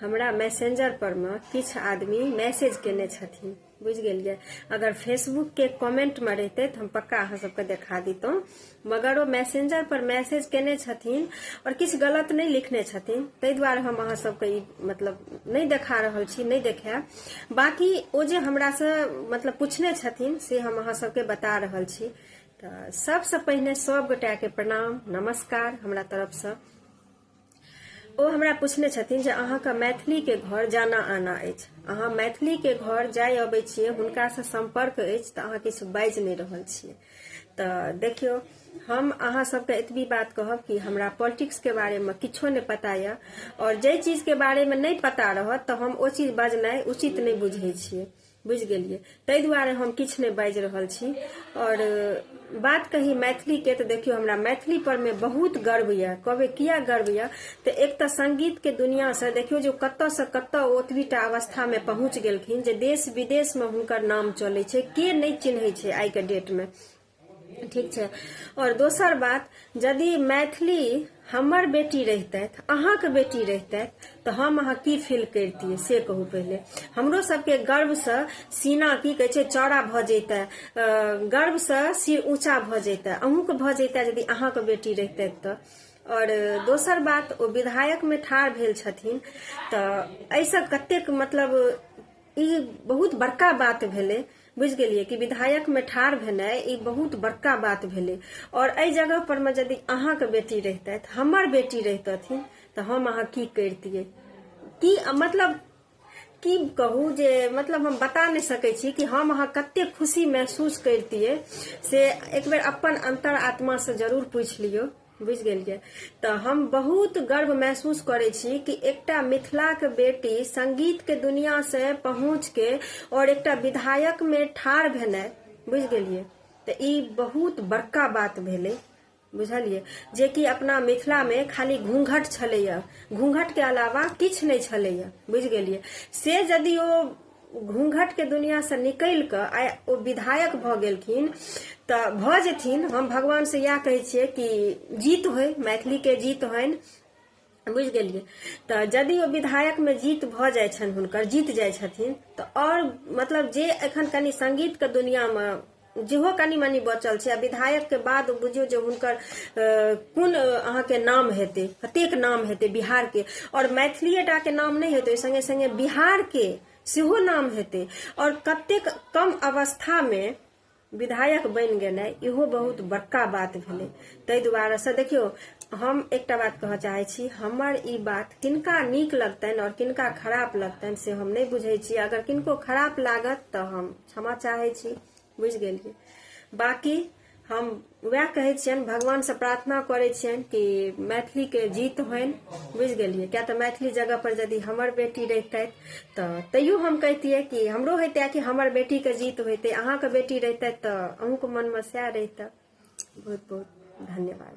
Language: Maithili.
हमरा मैसेंजर पर में किछ आदमी मैसेज केने छथिन बुझ गेलिए अगर फेसबुक के कमेंट में रहते तो हम पक्का अहाँ सबके देखा दितों मगर वो मैसेंजर पर मैसेज केने छथिन और किछ गलत नहीं लिखने छथिन ताहि दुआरे हम अहाँ सबके ई मतलब नहीं देखा रहल छी नहीं देखायब बाकी ओ जे हमरा से मतलब पूछने छथिन से हम अहाँ सबके बता रहल छी तऽ सबसँ पहिने सब गोटा के प्रणाम नमस्कार हमरा तरफ से ओ हमरा पूछने छथिन जे अहाँके मैथिलीके घर जाना आना अछि अहाँ मैथिलीके घर जाय अबै छियै हुनकासँ सम्पर्क अछि तऽ अहाँ किछु बाजि नहि रहल छियै तऽ देखियौ हम अहाँ सबके एतबी बात कहब कि हमरा पॉलिटिक्स के बारे में किछो नहीं पता यऽ और जे चीज के बारे में नहीं पता रहत तऽ हम ओ चीज बजनाइ उचित नहीं बुझे छे बुझि गेलियै ताहि दुआरे हम किछु नहि बाजि रहल छी आओर बात कही मैथिलीके तऽ देखियौ हमरा मैथिली पर मे बहुत गर्व यऽ कहबै किया गर्व यऽ तऽ एक तऽ संगीतके दुनिआसँ देखियौ जे कतयसँ कतय ओ ओतबीटा अवस्थामे पहुँच गेलखिन जे देश विदेशमे हुनकर नाम चलै छै के नहि चिन्है छै आइके डेटमे ठीक छै और दोसर बात यदि मैथिली हमर बेटी रहितथि अहाँके बेटी रहितथि तऽ हम अहाँ की फील करितियै से कहू पहिले हमरो सबके गर्वसँ सीना की कहै छै चौड़ा भऽ जैतै गर्वसँ सिर ऊँचा भऽ जैतै अहूँके भऽ जैतै यदि अहाँके बेटी रहितथि तऽ और दोसर बात ओ विधायक में ठाढ़ भेल छथिन तऽ एहिसँ कतेक मतलब ई बहुत बड़का बात भेलै बुझि गेलियै कि विधायक में ठाढ़ भेनाइ ई बहुत बड़का बात भेलै और एहि जगह पर में यदि अहाँके बेटी रहितथि हमर बेटी रहितथिन तऽ हम अहाँ की करितियै की मतलब की कहू जे मतलब हम बता नहि सकै छी कि हम अहाँ कते खुशी महसूस करितियै से एक बेर अपन अंतर आत्मा से जरूर पूछि लियौ बुझि गेलियै तऽ हम बहुत गर्व महसूस करै छी कि एकटा मिथिलाक बेटी संगीतके दुनिआँसँ पहुँचके आओर एकटा विधायकमे ठाढ़ भेनाइ बुझि गेलियै तऽ ई बहुत बड़का बात भेलै बुझलियै जेकि अपना मिथिलामे खाली घूँघट छलैए घूँघटके अलावा किछु नहि छलैए बुझि गेलियै से यदि ओ घूंघटके दुनिआँसँ निकलि कऽ आइ ओ विधायक भऽ गेलखिन तऽ भऽ जेथिन हम भगवानसँ इएह कहै छियै कि जीत होय मैथिलीके जीत होइन बुझि गेलियै तऽ यदि ओ विधायकमे जीत भऽ जाइ छनि हुनकर जीत जाइ छथिन तऽ आओर मतलब जे एखन कनि संगीतके दुनिआँमे जेहो कनि मनि बचल छै आ विधायक के बाद बुझियौ जे हुनकर कोन अहाँके नाम हेतै कतेक नाम हेतै बिहार के और मैथिलीए टा के नाम नहि हेतै संगे संगे बिहार के सेहो नाम हेतै और कतेक कम अवस्था मे विधायक बनि गेनाइ इहो बहुत बड़का बात भेलै ताहि दुआरे से देखियौ हम एकटा बात कहऽ चाहै छी हमर ई बात किनका नीक लगतनि और किनका खराब लगतनि से हम नहि बुझै छी अगर किनको खराब लागत तऽ हम क्षमा चाहे छी बुझ गेलिए बाकी हम वह कहे छियन भगवान से प्रार्थना करे छियन कि मैथिली के जीत होन बुझ गेलिए क्या तो मैथिली जगह पर यदि हमर बेटी रहते तो तैयो हम कहतिए कि हमरो हेते कि हमर बेटी के जीत होते अहाँ के बेटी रहते तो अहूँ के मन में सह रहते बहुत बहुत धन्यवाद